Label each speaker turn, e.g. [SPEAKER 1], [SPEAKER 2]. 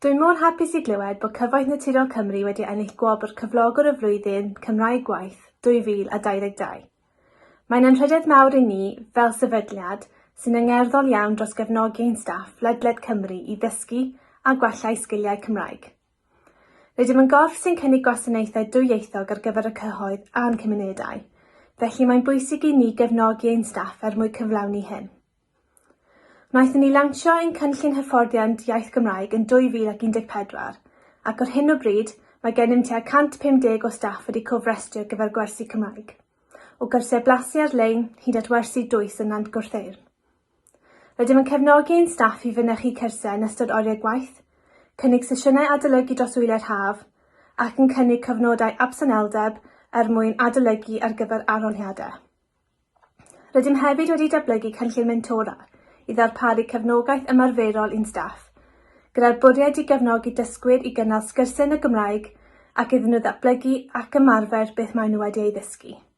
[SPEAKER 1] Dwi mor hapus i glywed bod Cyfoeth Naturiol Cymru wedi ennill gwobr Cyflogwr y Flwyddyn Cymraeg Gwaith 2022. Mae'n anrhydedd mawr i ni, fel sefydliad, sy'n angerddol iawn dros gefnogi ein staff ledled Cymru i ddysgu a gwella eu sgiliau Cymraeg. Rydym yn gorff sy'n cynnig gwasanaethau dwyieithog ar gyfer y cyhoedd a'n cymunedau, felly mae'n bwysig i ni gefnogi ein staff er mwyn cyflawni hyn. Wnaethon ni lansio ein cynllun hyfforddiant iaith Gymraeg yn 2014, ac ar hyn o bryd, mae gennym tua 150 o staff wedi cofrestru ar gyfer gwersi Cymraeg, o gyrsiau blasu ar-lein hyd at wersi dwys yn Nant Gwrtheyrn. Rydym yn cefnogi ein staff i fynychu cyrsiau yn ystod oriau gwaith, cynnig sesiynau adolygu dros wyliau'r haf, ac yn cynnig cyfnodau absenoldeb er mwyn adolygu ar gyfer arholiadau. Rydym hefyd wedi datblygu cynllun mentora i ddarparu cefnogaeth ymarferol i'n staff, gyda'r bwriad i gefnogi dysgwyr i gynnal sgyrsiau yn y Gymraeg ac iddyn nhw ddatblygu ac ymarfer beth maen nhw wedi ei ddysgu.